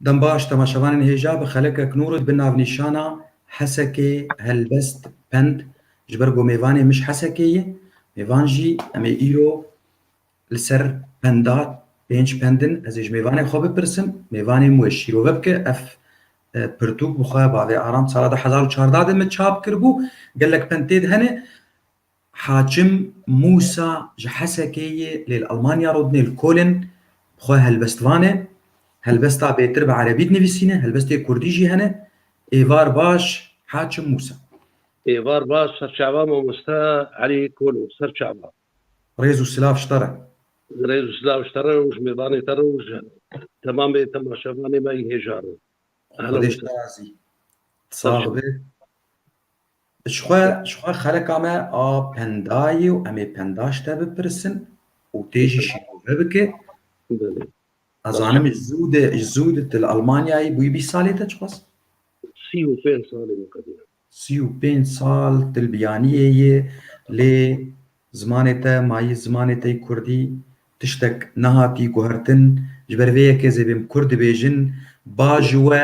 Dembaş, temaşevanên hêja bi xelekek nû re di bin navnîşana Hesekê helbest pend ji ber ku mêvanê mij Hesekê ye, mêvan jî em ê îro li ser penda pênc pend in ez ê ji mêvanê xwe bipirsim, mêvanê min wê şîrove bike. Ev pirtûk bi xwe bavê Aram sala du hezar û çardeh de min çap kiribû, gelek pend tê de hene. Hakim Mûsa ji Hesekê yê lê li Elmanya rûdine li Kolin bi xwe helbest vane. Helbesta bêtir bi erebî dinivîsîne, helbestê kurdî jî hene. Êvar baş Hakim Mûsa. Êvar baş serçava mamoste Elî Kolo serçava. Rêz û silav ji te re. Rêz û silav ji te re û ji mêvanê te re û ji temamê temaşevanê me yên hêja re. Xwedê ji te razî. Sax be. Ji xwe ji xwe xeleka me a penda yê û em ê penda ji te bipirsin û tê jî şîrove bike. Belê. Nazanim ji zû de ji zû de tu li Almanyayê bûyî bîst salê te çiqas? Sî û pênc salê min qedî ye. Sî û pênc sal tu li biyaniyê yê lê zimanê te mayî zimanê te yî kurdî tiştek nehatî guhertin. Ji ber vê yekê zêbêm kurd dibêjin ba ji we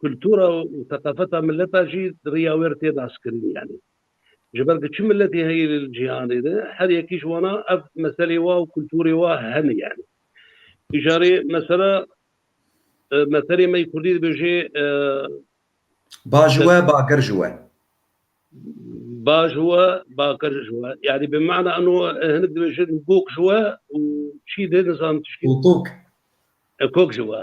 Kultura û seqafeta mileta jî di riya wê re tê naskirin yanî ji ber ku çi miletî heye li cîhanê de her yekî ji wana ev meselê wa û kulturê wa hene yanî. Îcarê mesela meselê me yê kurdî dibêjê. Ba ji we bakir ji we. Ba ji we bakir ji we yanî bi mana eno hinik dibêjin gok ji we û çî dê nizan tişkî. Û kok. Kok ji we.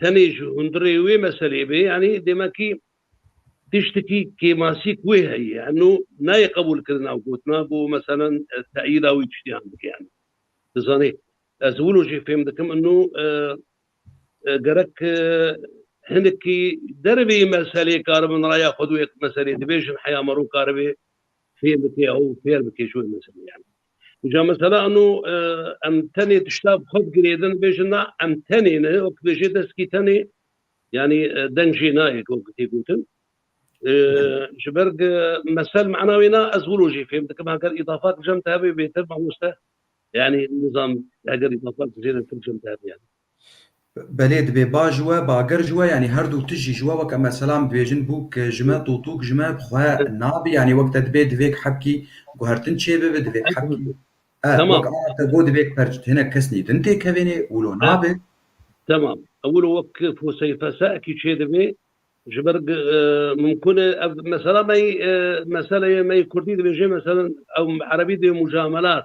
Tenê ji hundirê wê meselê bê yanî demekî tiştekî kêmasîk wê heye eno nayê qebûlkirin ew gotina ku meselen teyîda wî tiştiyan bike yanî dizanê ez wilo jê fêm dikim eno gerek hinekî dervê meselê karibin raya xwe di wê meselê dibêjin heya me rû karibê fêm bike ew fêr bike ji wê meselê yanî. Îca mesela eno em tenê tişta bi xwe bigirêdin dibêjin na em tenê ne wek dibêjê deskî tenê yanî deng jê nayê ku wek tê gotin. Ji ber mesel mana wê na ez wilo jî fêm dikim heger îdafat bijem te hebê bêtir mamoste yanî nizam heger îdafat bijêre tir bijem te hebê yanî. Belê dibê ba ji we, bager ji we yanî her du tişt jî ji we weke mesela min dibêjin bûk ji me, tûtûk ji me bi xwe nabî yanî wek te dibê divêk hebkî guhertin çêbibi divêk hebkî er wek ara te got divêk perc di hinek kesnî din tê kevênê wilo nabe. Temam. Wilo wek foseyê fesekî çêdibê ji ber gi min kune ev mesela me yî meseleyê me yî kurdî dibêjê meselan ew erebî dê mucamelat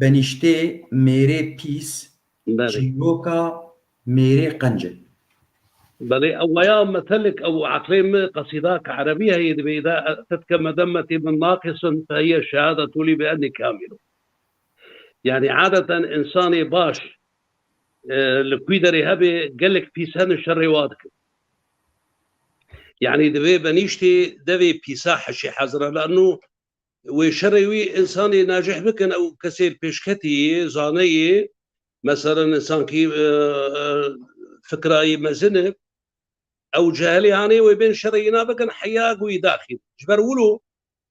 Benîştê mêrê pîs çîroka mêrê qenc e. Belê ew weya metelek ew eqlê mi qesîda ke erebî heyê dibê î de te dike medemetî min naqisin te hiye şehada tolî bi enî kamîl o. Yanî adeten însanê baş li kûy derê hebê gelek pîs hene şerê wa dikin. Yanî divê benîştê devê pîsa heşê hezir e lano Wê şerê wî însanê najih bikin ew kesê pêşketî yê, zaneyê, meselan însankî fikrayî mezin e, ew cehelê anê wê bên şerê înan bikin heyag wî daxîn. Ji ber wilo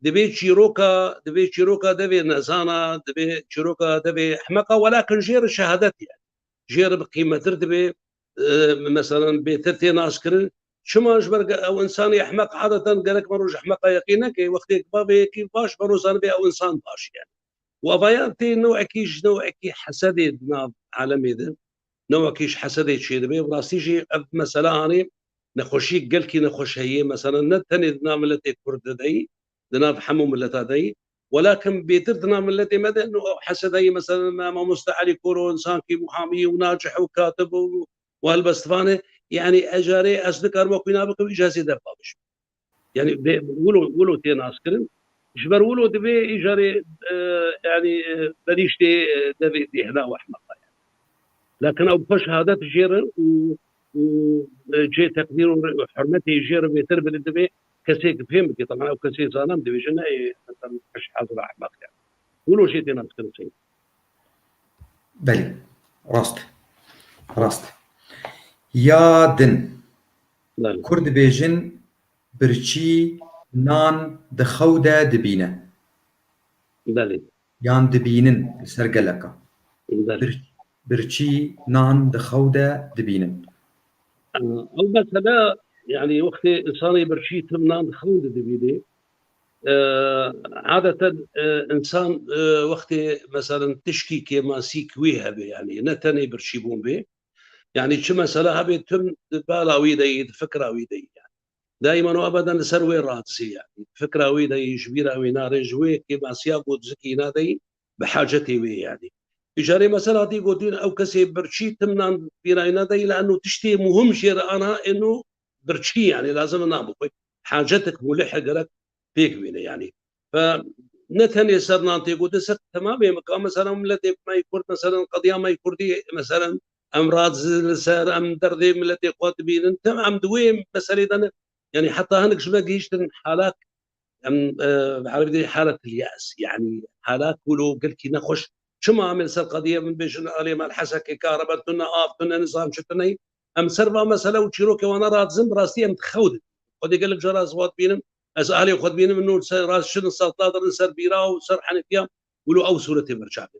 divê çîroka divê çîroka devê nezana, divê çîroka devê ehmeqa welakin jê re şehadet ye. Jê re bi qîmetir divê Meselan bêtir tê naşkirin. Çima ji ber ew însanê ehmeq adeten gerek me roj ehmeqa yeqîn neke. Wextêk bavê yekî baş be roj zanibê ew însan baş ye. Wavayan tê newekî ji newekî hesedê di nav alemê de. Newekî ji hesedê çêdibe û rastî jî ev mesela anî nexweşî gelkî nexweş heye. Meselan ne tenê di nav miletê kurd de deyî di nav hemû mileta deyî. Wela kim bêtir di nav miletê me de no ew hesedayî meselen me mamoste Elî Kor û insan kî muhamî û nacih û katib û û helbestivan e yanî ez carê ez nikarim wek wî nav bikim îja zêde bi bawiş bû. Yanî vê wilo wilo tê naskirin ji ber wilo divê îja rê yanî benîştê devê bêhna û ehmeqa ye. Lakin ew bi xwe şehadet jê re û û cihê teqdîr û hurmetê jê re bêtir bidin divê Kesê ke fêm bike teman ew kesê zanem dibêje neyê meselem eş'ezu rahmet kerd. Hûn o jê tênan dikirin sey. Belê. Rast e. Rast e. Ya din. Belê. Kurd dibêjin birçî nan di xew de dibîne. Belê. Yan dibînin li ser geleka. Belê. Birçî. Birçî nan di xew de dibînin? Elbette na. Yanî wextê însanê birçî tim nan di xew de dibînê. Adeten însan wextê meselin tişkî kê masîk wî hebe yanî ne tenê birçîbûn bê. Yanî çi mesele hebe tim di bala wî de yî di fikra wî de yî yanî. Daiman û ebeden li ser wê radizê yanî. Di fikra wî de yî ji bîra wî na rê ji wê kê masiya ku di zikî îna de yî bi hacetê wê yanî tu carê mesel hatî gotin ew kesê birçî timnan pîrayna de îla eno tiştê muhim jê re ana eno birçî yanî lazim na bixwe hacetik mulihe gerek pêk bîne yanî ve ne tenê ser nan tê gotin ser temamê mika meselan miletê me yê kurd meselan qediya me yê kurdî meselan em razî li ser em derdê miletê xwe dibînin tim em di wê meselê de ne yanî heta hinek ji me gihîştin halak Em bi erebî dê halatul ye's yanî halat ku lo gelkî nexweş çima em ê li ser qediye min bêjin alê me li hesekê karebe tune av tune nizam çi tune yî em li ser van mesele û çîrokê wan ne radizin bi rastî em dixew didin xwedê gelek caran ez wan dibînim ez alê xwe dibînim min nû li ser rast şin li ser tla dirin li ser bîra û li ser henîfiya wilo ew sûretê berçavê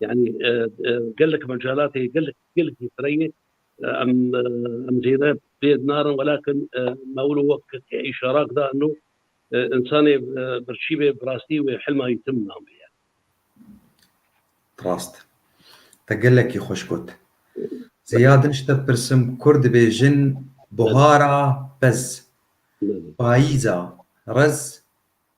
Yanî gelek mecalatê gelek gelekî fireyê em em zêde pêd narin welakin mewlo wek îşarak da no insanê birçîbê birastî wê hilma yî tim namê ye. Rast. Te gelekî xweş got. Zêya din ji te pirsim kurd dibêjin buhara pez, payîza rez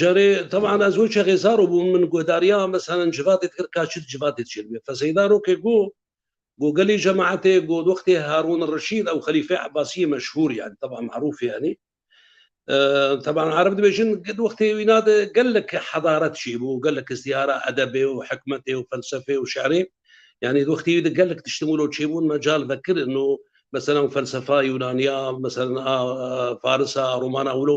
Carê teban ez wê çexê zaro bûm min guhdariya meselen civadê dikir ka çi di civadê de çêdibe. Feseyda rokê go go gelê cemaetê go di wextê Harûn Reşîd ew xelîfê Ebasiyê meşhûr yanî teban merûfê yanî teban ereb dibêjin di wextê wîna de gelek hedaret çêbû gelek izdîhara edebê û hikmetê û felsefê û şerê yanî di wextê wî de gelek tiştin wilo çêbûn mecal vekirin û meselen felsefa Yûnaniya meselen a Farisa a Romana wilo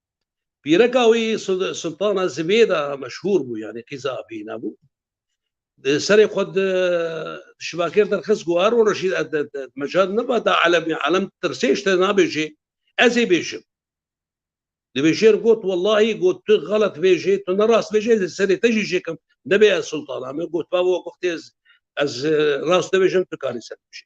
Pîreka wî Sultana Zibêda meşhûr bû yanî qîza Abîna bû. Di serê xwe di şibakêr derxist ku her roj jî mecal neba da elemê elem tirsê ji te nabêjê ez ê bêjim. Di bêjêr got wellahî got tu xelet bêjê tu nerast bêjê ez ê serê te jî jêkim nebê ez Sultana me got babo wextê ez rast dibêjim tu karî ser bêjî.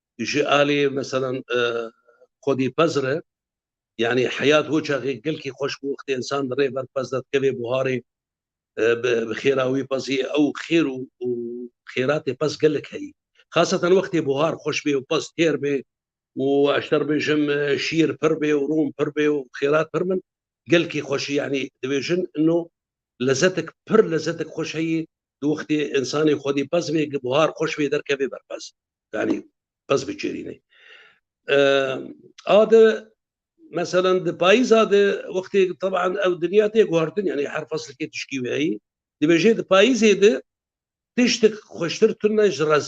Ji alî meselan xwedî pez re yanî heyat ho çaxê gelkî xweş bû wextê însan di rê ber pez de dikevê buharê bi xêra wî pezî ew xêr û xêratê pez gelek heyî. Xasatan wextê buhar xweş bê û pez têr bê û ez te bêjim şîr pir bê û rûn pir bê û xêrat pir bin gelkî xweşî yanî dibêjin ino lezetik pir lezetik xweş heyî di wextê însanê xwedî pez bê gi buhar xweş bê derkevê ber pez yanî pez biçêrînê a de meselen di payîza de wextê teban ew dinya tê guhardin yanî her feslkê tişkî weyî dibêjê di payîzê de tiştik xweştir tune ji rez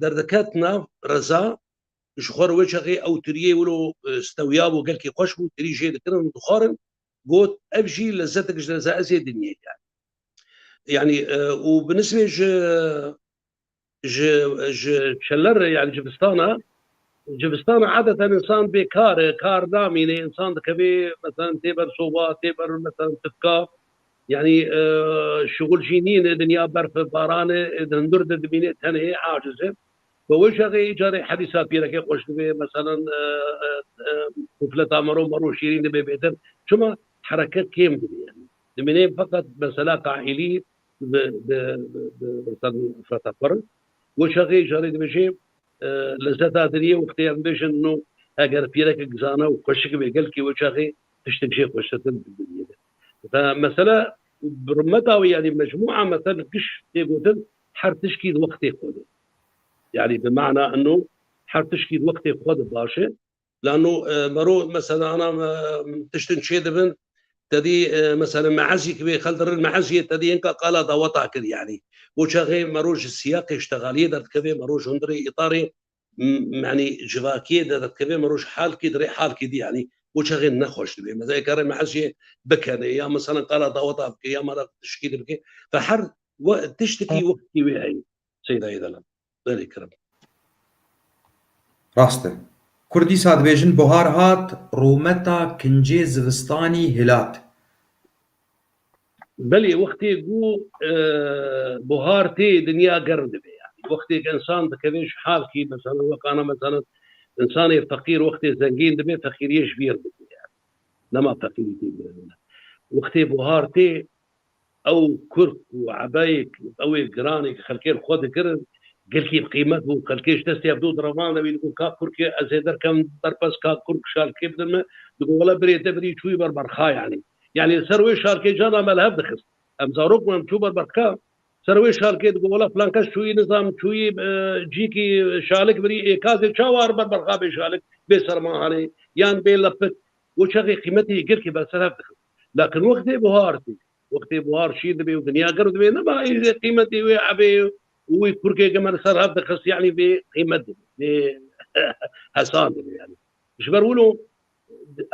Derdiket nav Reza, ji xwe re wê çaxê ew tiriyê wilo stewiyabû gelkî xweş bû, tirî jê dikirin û dixwarin, got, Ev jî lezetek ji leza ez ê dinyê de. Yanî û bi nisbê ji ji ji şeler re yanî civistan e, civistan e adeten însan bê kar e, kar namîne, însan dikeve meselen tê ber soba, tê ber meselen tifka, Yanî şuxul jî nîn ê dinya berfe barane ê di hundur de dimîne tenê ê aciz e. Bi wê şerê î carê hedîsa pîreke xweş dibê meselan mufleta mero mero şîrîn dibê bêtir çima hereket kêm dibê yanî dimîne feqet mesela kaîlî bi bi bi meselan mufleta xwe re wê şerê î carê dibêje lezeta diriyê wextê em bêjin no eger pîrekek zana û xweşik bê gelkî wê şerê tiştek jê xweştir din di dinyê de. Mesela bi rûmeta wê yanî mecmûa mesel giş tê gotin her tişkî di wextê xwe de. Yanî bi mana ino her tişkî di wextê xwe de baş e. Lano mero mesela ana tiştin çê dibin tedî mesela meezî ki wê xeldirin meezîyê tedî inka qala daweta kir yanî. Bo çaxê mero ji siyaqê îştegalîyê derdikeve mero ji hundirê îtarê Yanî civakiyê de dikeve miroj halkî dirê halkî dî yanî û çaxê nexweş dibê. Meza yê kare mehez jê bikenê ya misalan qala daweta bike ya mara tişkî de bike ve her tiştikî weqtî wê heye seyda yê de lan. Berê kirim. Rast e. Kurd dîsa dibêjin buhar hat, rûmeta kincê zivistanî hilat. Belê wextê ku buhar tê dinya germ dibe yanî wextê ku insan dikeve ji halkî meselan wek ana meselan insanê feqîr wextê zengîn dibe feqîriyê ji bîr dike yanî dema feqîrî tê girevîne wextê buhar tê ew kurk û ebeyêk ew ê giranêk xelkê li xwe dikirin gelkî bi qîmet bû xelkê ji destê hev du direvane wî digot ka kurk ez ê derkevim berpez ka kurk şalkê bidin min digot wele birê te birî çûyî ber berxa yanî Yanî li ser wê şarkê cana me li hev dixist. Em zarok bûn, em çû ber berxka. Ser wê şarkê digot wela filan kes çûyî nizam, çûyî cîkî şalik birî. Ê kazê çawa ar ber berxa bê şalik, bê sermahanê yan bê lepik. Û çaxê qîmetê yê girkê ber ser hev dixist. Lakin wextê buhar tê, wextê buhar şîr dibê û dinya girv dibê nema ê qîmetê wê evê û wê kurkeke me li ser hev dixist yanî bê qîmet dibê, bê hesan dibê yanî. Ji ber wilo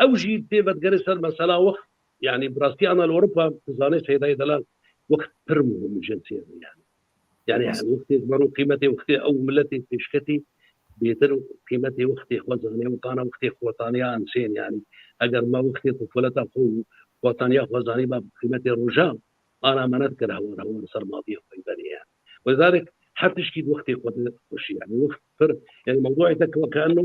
Ew jî tê vedigerê ser mesela wext yanî bi rastî ana li Ewropa tu zanê Seydayê Delal wext pir muhim jinsê re yanî. Yani her wextê mero qîmetê wextê ew miletê pêşketî bêtir qîmetê wextê xwe zanê û tana wextê xwe taniya insên yanî eger me wextê tufuleta xwe û xwe taniya xwe zanî ba qîmetê roja ana me nedikir hewar hewar ser maviyê xwe benê yani. Wezarek her tiştî wextê xwe de xweşî yani wext pir yani mewduê te kewke eno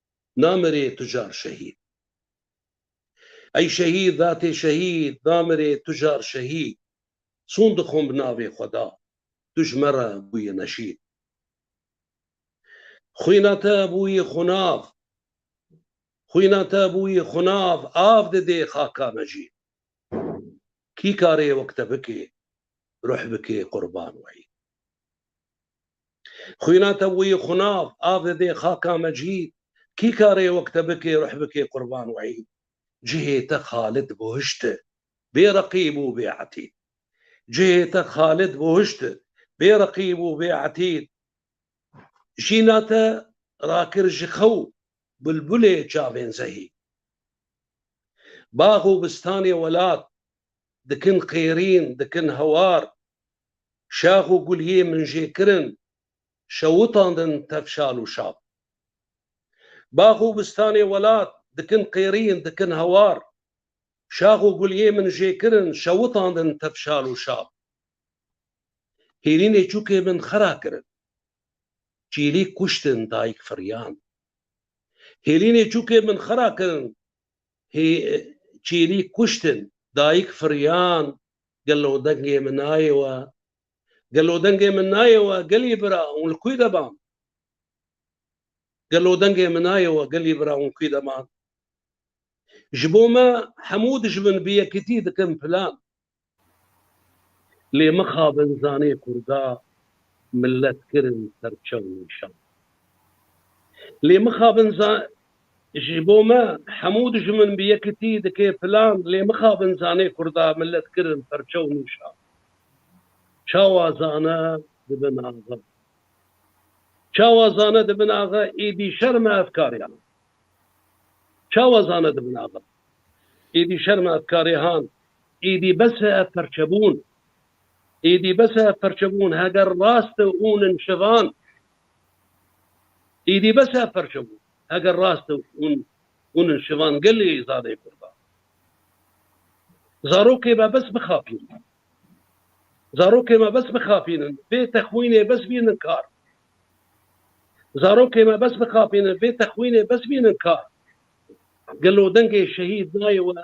namirê tu car şehîd. Ey şehîd datê şehîd, namirê tu car şehîd, çûn dixwim bi navê xweda, tu ji me re bûyî neşîd. Xwîna te bûyî xunav, xwîna te bûyî xunav, av didê xaka me jî. Kî karê wek te bikê, ruh bikê qurban weyî. Xwîna te wî xunav avê dê xaka me cihîd Kî karê wek te bikê ruh bikê qurban û îd Cihê te xalid bo hişt e bê reqîb û bê etîd Cihê te xalid bo hişt e bê reqîb û bê etîd Jîna te rakir ji xew bulbulê çavên zehî Bax û bistanê welat dikin qêrîn dikin hewar Şax û guliyê min jê kirin, şewitandin tev şal û şab. Bax û bistanê welat, dikin qêrîn, dikin hewar. Şax û guliyê min jê kirin, şewitandin tev şal û şab. Hêrînê çûkê min xera kirin, çîlîk kuştin dayik firyand. Hêrînê çûkê min xera kirin, Hê çîrî kuştin, dayik firiyan, Gelo dengê min nayê we, gelo dengê min nayê we, gelî bira hûn li kûy de man? Gelo dengê min nayê we, gelî bira hûn kûy de man? Ji bo me hemû dijmin bi yekitî dikin plan. Lê mixabin zanê Kurda millet kirin serçew nîşan. Lê mixabin za Ji bo me hemû dijmin bi yekitî dike plan lê mixabin zanê Kurda millet kirin perçew nîşan. Çawa zane dibin axe. Çawa zane dibin axe êdî şerm e efkariyan. Çawa zane dibin axe êdî şerm e efkarihan. Êdî bes e ev perçebûn. Êdî bes e ev perçebûn. Heger rast e ûn in şivan. Êdî bes e ev perçebûn. Heger rast e ûn ûn in şivan gelê zade kurda. Zarokê me bes bixapîn. Zarokê me bes bixapînin. Vê texwînê bes bînin kar. Zarokê me bes bixapînin. Vê texwînê bes bînin kar. Gelo dengê şehîd nayê we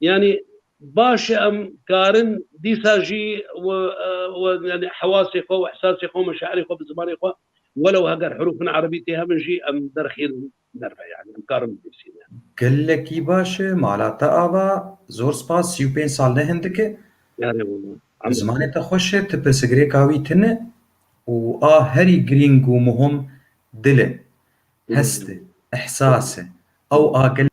Yanî baş e em karin dîsa jî yanî hewasê xwe û ihsasê xwe û meşairê xwe bi zimanê xwe welew heger herûfên erebî tê hebin jî em derxîr nebe yanî em karin binivîsîne. Gelekî baş e mala te ava. Zor spas sî û pênc sal ne hindik e. Yarê wina. Bi zimanê te xweş e tu pirsgirêka wî tune û a herî girîng û muhim dil e. Hest e. Ihsas e. Ew a gelekî